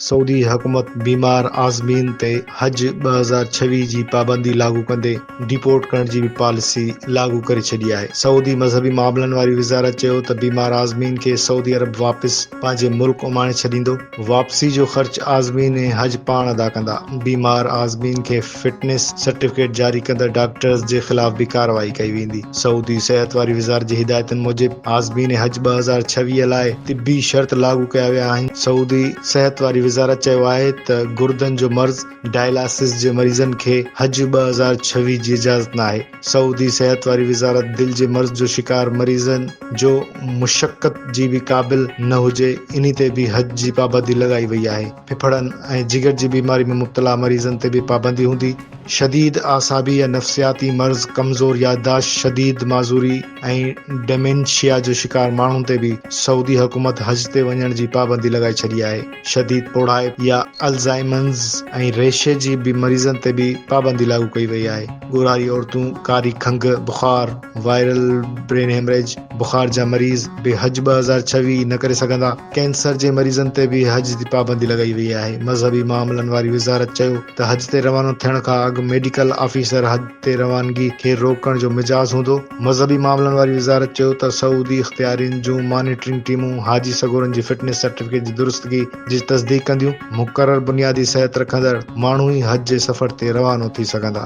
سعودي حڪومت بيمار عازمين تي حج ٻه هزار ڇويهه جي پابندي لاڳو ڪندي ڊيپورٽ ڪرڻ جي به پاليسي لاڳو ڪري ڇڏي آهي. سعودي مذهبي معاملن واري وزارت چيو ته بيمار عازمين کي سعودي عرب واپس پنهنجي ملڪ اماڻي ڇڏيندو. واپسي جو خرچ عازمين ۽ حج پاڻ ادا ڪندا. بيمار عازمين کي. فٽنس سرٽيفڪيٽ جاري ڪندڙ ڊاڪٽرز جي خلاف به ڪارروائي ڪئي ويندي. سعودي صحت واري وزارت جي هدايتن موجب عازمين حج ٻه هزار ڇويهه لاء طبي شرط لاڳو ڪيا ويا آهن. سعودي صحت واري وزارت چيو آهي ته گردن جو مرض، ڊائلاسز، جي مريضن کي حج ٻه هزار ڇويهه جي اجازت ناهي. سعودي صحت واري وزارت دل جي مرض جو شڪار مريضن جو مشقت جي به قابل نه هجي انهي تي به حج جي پابندي لڳائي وئي آهي. ڦڦڙن ۽ جگر جي بيماري ۾ مبتلا مريضن تي به پابندي هوندي. شديد اعصابي يا نفسياتي مرض، ڪمزور يادداشت، شديد معذوري ۽ ڊيمينشيا جو شڪار ماڻهن تي به سعودي حڪومت حج تي وڃڻ جي پابندي لڳائي ڇڏي آهي. شديد پوڙهائپ يا الزائمرز ۽ ريشي جي مريضن تي به پابندي لاڳو ڪئي وئي آهي. ڳورهاري عورتون ڪاري کنگهه، بخار، وائرل برين هيمريج، بخار جا مريض به حج ٻه هزار ڇويهه نه ڪري سگهندا، ڪينسر جي مريضن تي به حج تي پابندي لڳائي وئي آهي، مذهبي معاملن واري وزارت چيو ته حج تي روانو ٿيڻ کان اڳ ميڊيڪل آفيسر حج تي روانگي کي روڪڻ جو مجاز هوندو، مذهبي معاملن واري وزارت چيو ته سعودي اختيارين جون مانيٽرنگ ٽيمون حاجي سڳورن جي فٽنس سرٽيفڪيٽ جي درستگي جي تصديق ڪنديون، مقرر بنيادي صحت رکندڙ ماڻهو ئي حج جي سفر تي روانو ٿي سگهندا.